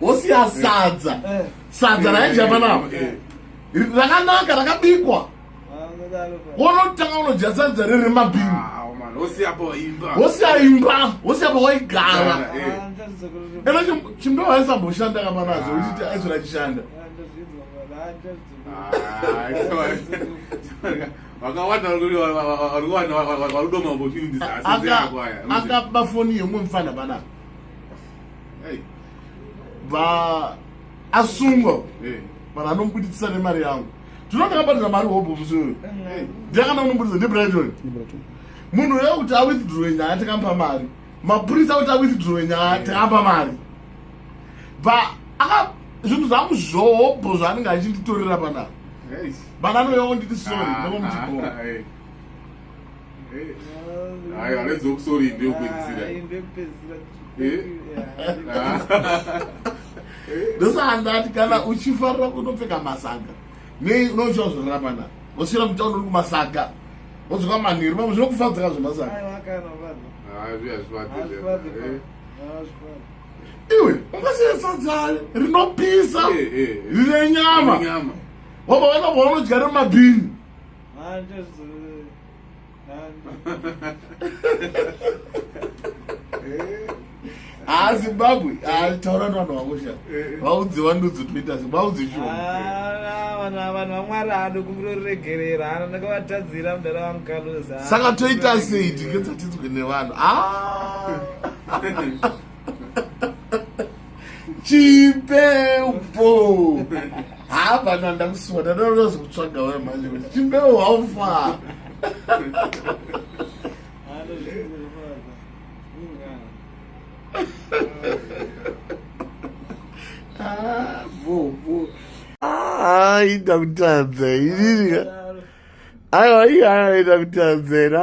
wosiya sadza eh. sadza raidya panapa rakanaka rakabikwa wonotanga unodya sadza riri mabhini wosiya imba wosiya pawaigara ena chimdo waisamboshanda kamanazo uchiti aizvira chishanda akaba foni yomwe mfana panapa va asungwa eh. vanhu anomubuditsisa nemari yangu tinoti akabatira mari hobho musi uyu ndiakana unomubuditsa ndibrighton munhu uya kuti awithdrowe nyaya tikamupa mari mapurisa kuti awithdrowe nyaya eh. tikamupa mari va aka zvinhu zvangu zvohobho zvaanenge achinditorera panaa vana anoyao nditi sori ndokomuchibhora Hayi alenze ukusoli into yokupedzisira. Hayi into yokupedzisira. ndosandati kana uchifarira kunopfeka masaga nei unochiwa zvorarama na wosvira mutauni uri kumasaga wodzoka manheru pamwe zvinokufadzaka zvemasaga iwe ungasiyesatsa rinopisa rine nyama wabva vana vaunodya remabhini haa zimbabwe taura ni vanhu vako sha vaudzi vandudzi toita zi vaudzi shovanhu vanhu vamwari haado kumbiro riregerera hana ndakavatadzira mudara vangu kaluza saka toita sei tinge dzatinzwe nevanhu haa chimbepo haapana ndakusuwa ndadaazokutsvaga we manje kuti chimbepo haufa ah, ah, ita kutadza inini aiwa iye aita kutadzera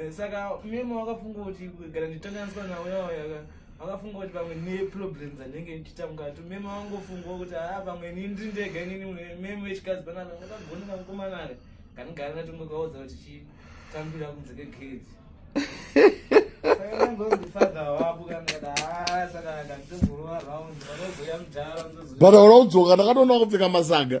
Eh, saka memo wakafunga kuti gara nditanganiswa nauya wayaka wakafunga kuti pamwe neproblems anenge ndichitanga tu memo wangofunga kuti haa ah, pamwe ini ndiri ndega inini memo wechikadzi panapa ndakagoneka mukomana aka kanigara natongo kaudza kuti chii tambira kunze kegedhi but aura kudzoka ndakatoona kupfeka masaga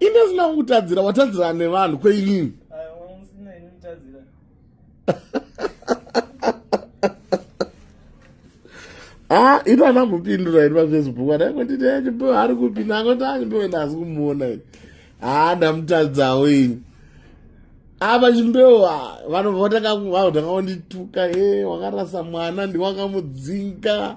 ini asina kukutadzira watadzira nevanhu kweinini ha ah, ino anambopindura ini pafacebook adaingotiti achipewa eh, ari kupi nangoti achipewa ini asi kumuona ini ha ah, ndamutadzawo ini apa chimbewo ah, vanobva vatanga kundituka e eh, wakarasa mwana ndiwakamudzinga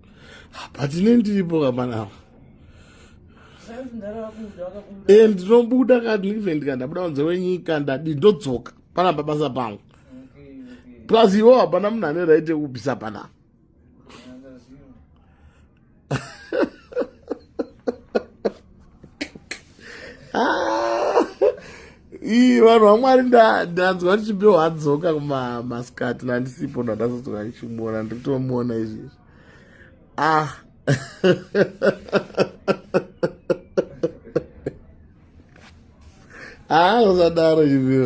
patine ndiripo kapanapa e ndinobuda kadlive ndika ndabuda kunze wenyika ndadi ndodzoka pana pabasa pangu plus iwo hapana munhu ane right yekubvisa panapa ah! ii vanhu vamwari ndanzwa ndichibewa adzoka kumaskati nandisipo ndandazodzoka ndichimuona ndiri kutomuona izvezvi ah ah usadaro ivio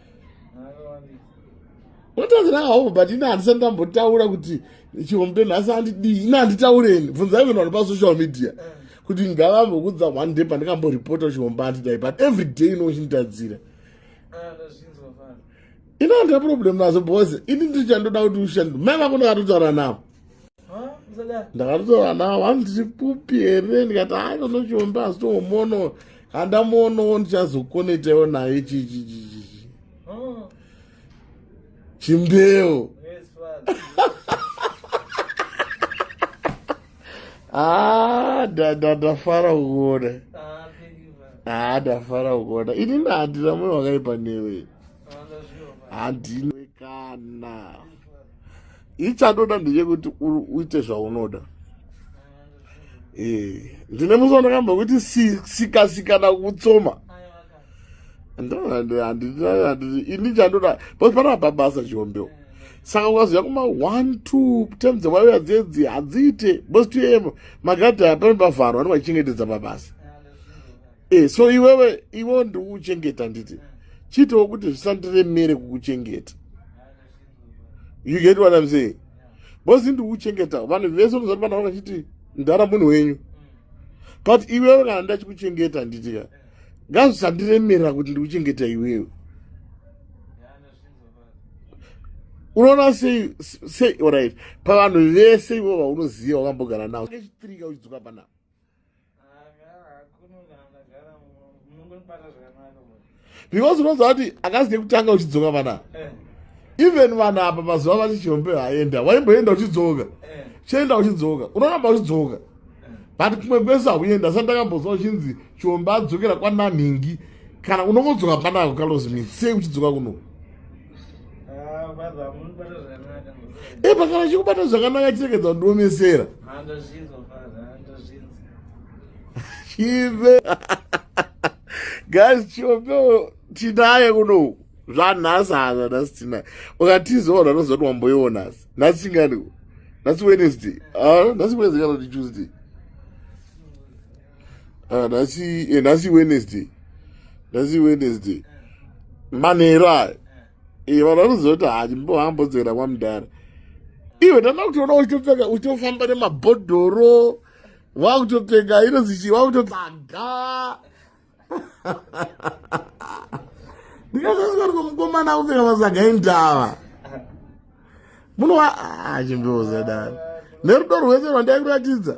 unotaura hawo but ini handisati ndambotaura kuti chihombe nhasi andidii ini handitaureni bvunzai vanhu vari pasocial media kuti ngavambokudza one day pandikamboripota chihombe andidai but every day inochinitadzira ini handina problem nazo bcause ini ndichandoda kuti ushandi mai vako ndakatotaura navo ndakatotaura navo vanhu tiri kupi here ndikati hai ndonochiomba asi tomuono handamuonowo ndichazokonetaiwo naye chichichichichi chimbeu ah, ndafara kuona haa ah, ndafara kuona ini ndahandina moyo wakaipa newe handinwe kana ichatoda ndechekuti uite zvaunoda eh, ndine musi wandakamba kuti sikasikana kutsoma ini chandoda but panapa basa chihombeo saka ukaziva kuma one two tem dzewaiuya dzedzi hadziite bcause tuye magadhi aya pane pavharwa anenge achichengetedza mabasa e so iwewe iwewo ndikukuchengeta nditi chiitawo kuti zvisandiremere kukuchengeta you get what i'm saying bozi ndiri kuchengeta vanhu vese unozati vana vanga chiti ndara munhu wenyu but iwewe kana ndachikuchengeta handitika ngazvisandiremera kuti ndiri kuchengeta iwewe unoona sei sei orit pavanhu vese ivo vaunoziva wakambogara navo nechitirika uchidzoka panavo because unoziva kuti akazi nekutanga uchidzoka vana eh. even vanhu apa mazuva vachijombe vaenda waimboenda uchidzoka eh. chienda uchidzoka unoramba uchidzoka eh. but kumwe kwese akuenda sa ndakamboziva uchinzi chiombe adzokera kwananhingi kana unongodzoka panako kalozi mitsei uchidzoka kuno e pakana chikubata zvakanaka chirekedza kundiomesera chive guys chiopewo tinaye kunoku zvanhasi hazva nhasi tinaye ukatizoona unozoti wamboiwo nhasi nhasi chinganiko nhasi wednesday nhasi wednesday kana kuti tuesday ah, nhasi eh, nhasi wednesday nhasi wednesday manheru ayo eh, vanhu vanoziva kuti handimbohambodzera kwamudhara iwe ndanda kutoona uchitopfeka uchitofamba nemabhodhoro wakutopfeka inozichii wakutopfaga ndikazazvariko mukomana kupfeka masaga endava munowa ah, chimbeoza dani nerudo rwese rwandairuratidza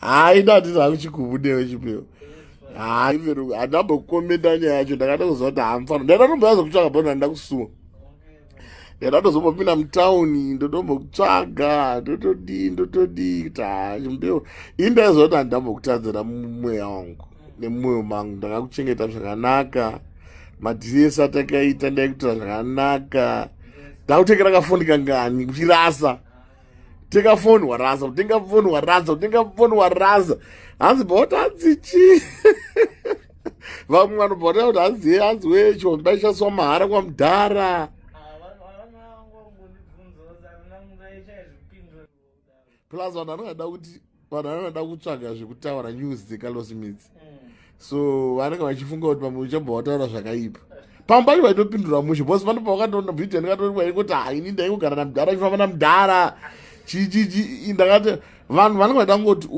hayi ndati zvakuchikubudewe chipeo hayi veru handambokomenda nyaya yacho ndakatokuziva kuti hamfano ndaidatomboyaza kutsvaka bho ndanda kusuwa ndaidatozombombina mutauni ndotombokutsvaga ndotodii ndotodii kuti haa chimbeo ini ndaiziva kuti handambokutadzira mumweya wangu nemumwoyo mangu ndakakuchengeta zvakanaka madhiri ese atakaita ndaikutora zvakanaka ndakutengera kafondi kangani kuchirasa tenga foni waraza tenga foni waraza tenga foni waraza hanzi bota hanzi chii vamwe vanobva vataura kuti hanzi ye hanzi wee chivambi baishandiswa mahara kwamudhara plus vanhu vanongada kuti vanhu vanoda kutsvaga zvekutaura news dzecarlos midzi mm. so vanenge vachifunga kuti pamwe uchabva wataura zvakaipa pamwe pacho vaitopindura mushe bcause panopa vakatoona vhidhiyo ndikatoona kwairi kuti haini ndaingogara namudhara chifamba namudhara chichichi ndakati vanhu vanenge vaida kungoti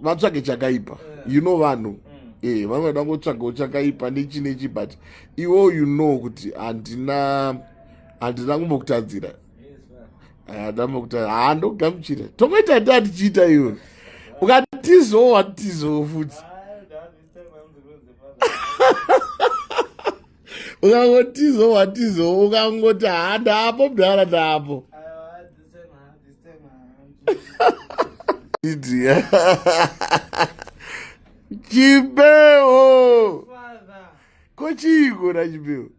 vatsvage chakaipa you know vanhu mm. eh vanenge vaida kungotsvagawo chakaipa nechi nechi but iwo you know kuti handina handina kumbokutadzira adama kuti haa ndogamuchira tomoita nda tichiita iwe ukatizowo watizowo futi ukangotizowo watizowo ukangoti haa ndaapo mdara ndaapo chibeo ko chiiko na chibeo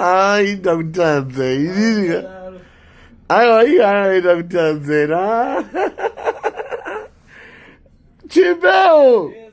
aita kutadza inini aiwa iyo aita kutadzera chimbewo yes,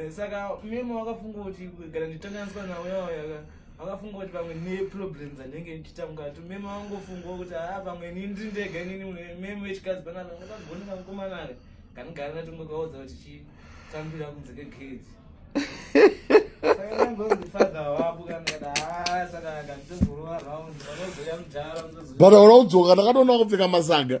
Eh, saka memo wakafunga kuti gara nditanganiswa nauya wayaka wakafunga kuti pamwe neproblems andenge ndichitanga to memo wangofunga kuti haa ah, pamwe ini ndiri ndega inini memo vechikadzi panapa ngakagoni kamukomanaka kanigara natongo kaudza kuti chitambira kunze kegedhi but aura kudzoka ndakatoona kupfeka masaga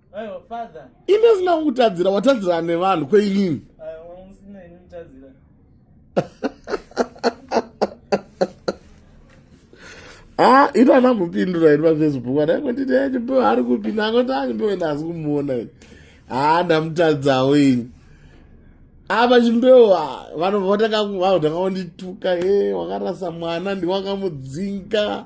imi asina kukutadzira watadzirana nevanhu kweimimi ha ah, ino ana mupindura ini pafacebook anaingonditi echipewa ari kupi nangoti anyipewe ndasi kumuona ini ha ah, ndamutadzawo ini apa ah, chimbewo vanobva vatakakuvavo takavondituka e eh, wakarasa mwana ndiwakamudzinga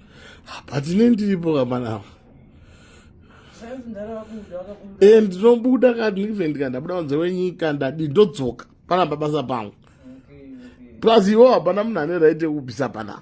but ne ndiripo kamanava e ndinobuda kani even ndika ndabuda kunze kwenyika ndadi ndodzoka pana pabasa pangu plus iwo hapana munhu ane right yekubvisa panapa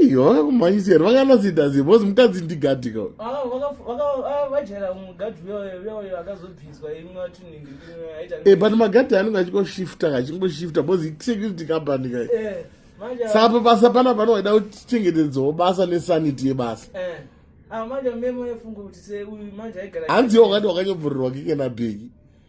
Aiwa kumaisiyana vakanasida zii bhozi mukadzi ndigadi ka. Ah vajera ah, mugadi uya uya akazobviswa imwe watuningi aita. Eh but magadi anenge achikoshifta kachingoshifta bhozi security company ka. Eh. Sapa basa pana pano waida kuchengetedzawo basa nesanity yebasa. Eh. Ah manje memo yefungo kuti se uyu manje aigara. Hanzi wakati wakanyobvurirwa kike na bheki.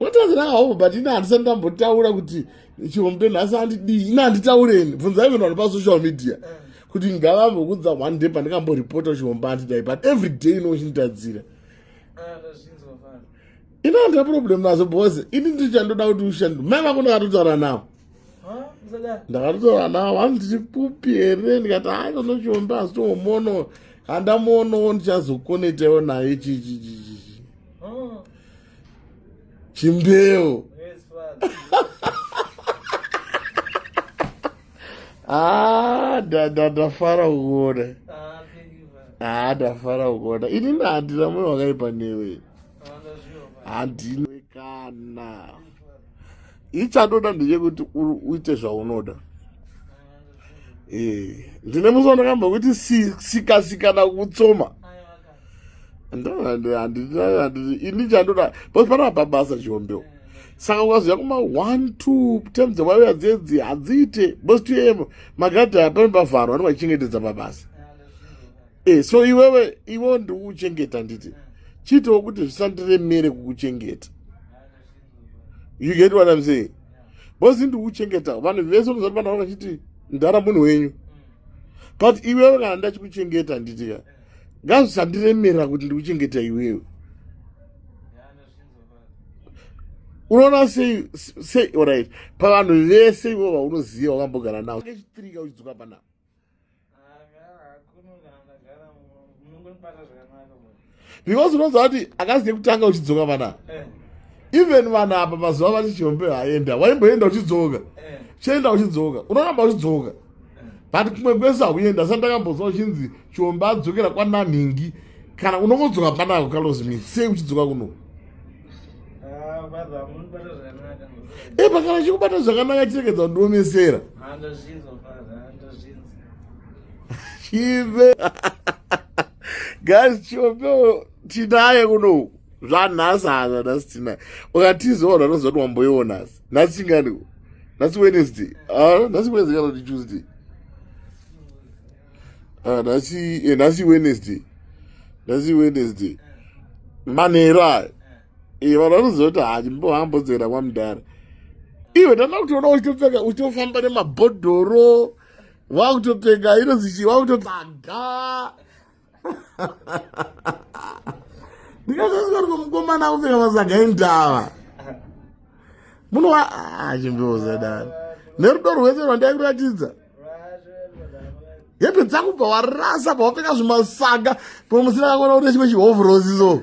watazi nahavo but ini handisati ndambotaura kuti chihombe nhasi andidii ini handitaureni bvunzai vanhu vano pasocial media eh. kuti ngavambokudza one day pandikamboripota chihombe andidai but every day inochinitadzira ah, ini handina problem nazo bhoze ini ndichandoda kuti ushandi mai vako ndakatotaura navo ndakatotora ana avo hanzi tiri pupi here ndikati hai kanochiombe asi toomono handamuonowo ndichazokonetaiwo naye chichichichichi hmm. chimbeo ah, ndafara kuona ah, ah, ndafara kuona ini ndahandina moyo wakaipa newe handinwe kana ichatoda ndechekuti uite zvaunoda eh, ndine musi wandakamba kuti sikasikana kutsoma ini chandoda bcause panapa basa chihombeo saka ukaziva kuma one two term dzewaiuya dzedzi hadziite bcause tuye magadhi aya pane pavharwa anenge achichengetedza pabasa e so iwewe iwewo ndikukuchengeta nditi chiitoo kuti zvisandiremere kukuchengeta you get what i'm saying bosi ndikuchengeta vanhu vese unozati vana vakachiti ndara munhu wenyu but iwewe kana ndachikuchengeta handitika ngazvisandiremera kuti ndikuchengeta iwewe unoona sei sei orit pavanhu vese ivo vaunoziva wakambogara navo echitirika uchidzoka panavo because unoziva kuti akasi kekutanga uchidzoka vana eh. even vanhu apa mazuva vati chihombe haenda waimboenda uchidzoka eh. chienda uchidzoka unoramba uchidzoka eh. but kumwe kwese hauenda sa ndakamboziva uchinzi chihombe adzokera kwananhingi kana unongodzoka panako kalozi mi sei uchidzoka kuno e pakana chikubata zvakanaka chirekedza kundiomesera chive guys chiopewo tinaye kuno zvanhasi hazva nhasi tinaye ukatiziwa unhu anoziva kuti wamboiwo nhasi nhasi chinganiko nhasi wednesday nhasi wednesday kana kuti tuesday ah, nhasi eh, nhasi wednesday nhasi wednesday manheru ayo eh, vanhu vanoziva kuti hachimbo hambodzera kwamudhara iwe ndanda kutoona uchitopfeka uchitofamba nemabhodhoro wakutopfeka inozichi wakutopfaga ndikazvazvariko mukomana kupfeka masaga endava munova ah, chimbiuza dani nerudo rwese rwandairuratidza hembe dzangu bva warasa bva wapfeka zvimasaga pamwe musina kakona kuti chimwe chihovhurosiso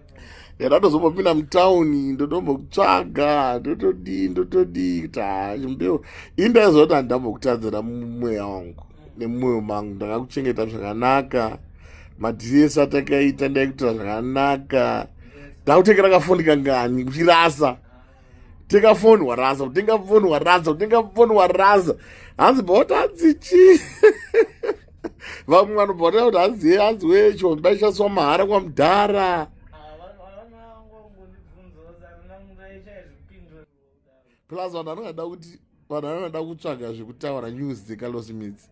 kana ndozombopinda mutauni ndotombokutsvaga ndotodii ndotodii kuti hachimbeo ini ndaiziva kuti handambokutadzira mumweya wangu nemumwoyo mangu ndakakuchengeta zvakanaka madhiri ese atakaita ndaikuitira zvakanaka ndakutengera kafoni kangani kuchirasa tenga foni waraza kutenga foni waraza kutenga foni waraza hanzi bhota hanzi chii vamwe vanobva vataura kuti hanzi ye hanzi wee chomba ichaswa mahara kwamudhara plus vanhu vanongada kuti vanhu vanongada kutsvaga zvekutaura news dzekalos mits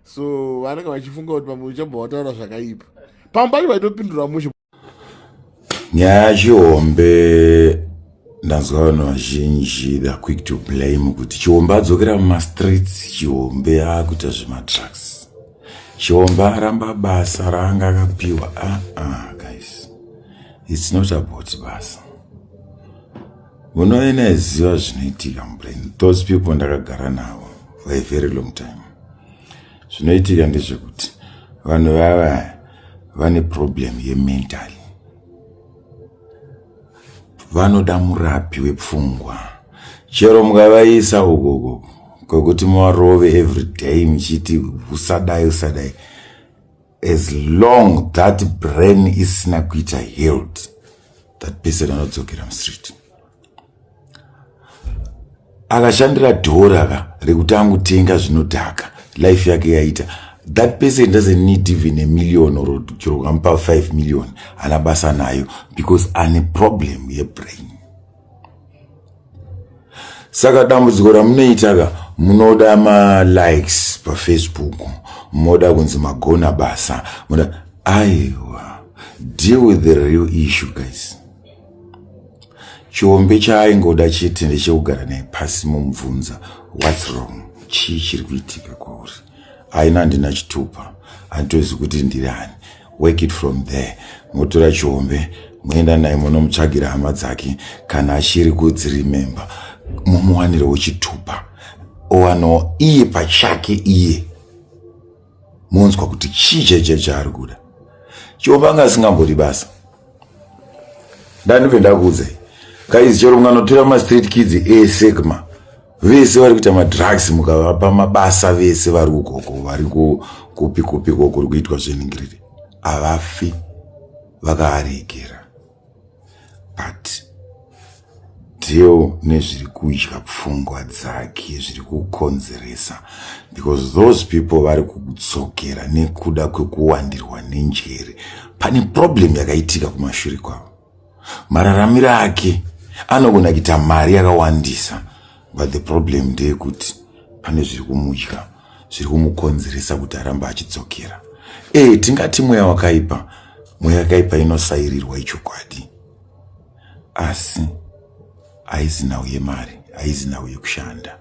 so vanenge vachifunga kuti pamwe uchabva wataura zvakaipa pamwe pacho vaitopindura mushe nyaya yachihombe ndanzwa vanhu vazhinji theyare quick to blame kuti chihombe adzokera mumastreets chihombe akuita zvematrucks chihombe aramba basa raanga akapiwa aa ah, ah, guys its not about basa munoena eziva zvinoitika mubrain those people ndakagara navo for a very long time zvinoitika ndezvekuti vanhu vava vane problem yemental vanoda murapi wepfungwa chero mukavaisa ukoko kwekuti muvarove every day muchiti usadai usadai as long that brain isina kuita healed that person anodzokera mustreet akashandira dhora ka rekuti angutenga zvinodhaka life yake yaita that person doesn't need even a million or chero ukamupa 5 million ana basa nayo because ane problem yebrain saka dambudziko ramunoita ka munoda malikes pafacebook moda kunzi magona basa moda aiwa deal with the real issue guys chombe chaaingoda chete ndechekugara naye pasi momubvunza whats wrong chii chiri kuitika kwauri aina handina chitupa handitozi kuti ndiri ani work it from there motora chombe moenda naye monomutsvagira hama dzake kana achiri kudzirememba momuwanirewo chitupa owanawo iye pachake iye monzwa kuti chii chaichai chaari kuda chiomba anga asingambodi basa ndandibve ndakuudzai kaizi chero mukanotora mastreet kids ese kma vese vari kuita madrugs mukavapa mabasa vese vari kukoko vari kupi kupi ko kuri kuitwa zveningiriri havafi vakaarigera but deo nezviri kudya pfungwa dzake zviri kukonzeresa because those people vari kudzokera nekuda kwekuwandirwa nenjere pane problem yakaitika kumashure kwavo mararamiro ake anogona kuita mari yakawandisa but the problem ndeyekuti pane zviri kumudya zviri kumukonzeresa kuti aramba achidzokera ee tingati mweya wakaipa mweya yakaipa inosairirwa ichokwadi asi haizi nhau yemari haizi nhau yekushanda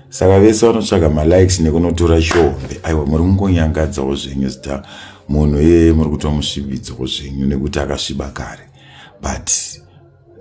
saka vese vanotsvaga malikes nekunotora shombe aiwa muri kungonyangadzawo zvenyu zita munhu iyeye muri kutomusvibidzawo zvenyu nekuti akasviba kare but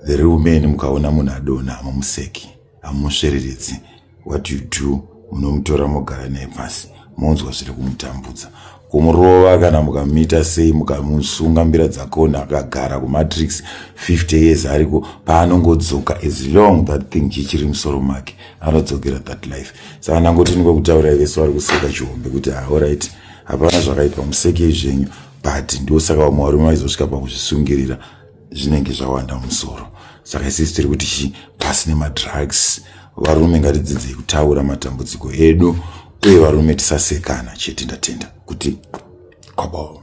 The real man mukaona munhu adona hamumuseki hamumusvereredzi what you do munomutora mogara naye pasi monzwa zviri kumutambudza kumurova kana mukamita sei mukamusunga mbira dzakona akagara kumatrix 50 years ariko paanongodzoka as long that thing chichiri musoro make anodzokera that life saka ndangoti niko kutaura vese vari kuseka chihombe kuti aorit ah, hapana zvakaipa musekei zvenyu but ndosaka vamwe varume vaizosvika pakuzvisungirira zvinenge zvawanda musoro saka isisi tiri kuti chi pasi nemadrugs varume ngatidzidzei kutaura matambudziko edu uye varume tisasekana chete ndatenda kuti kwabao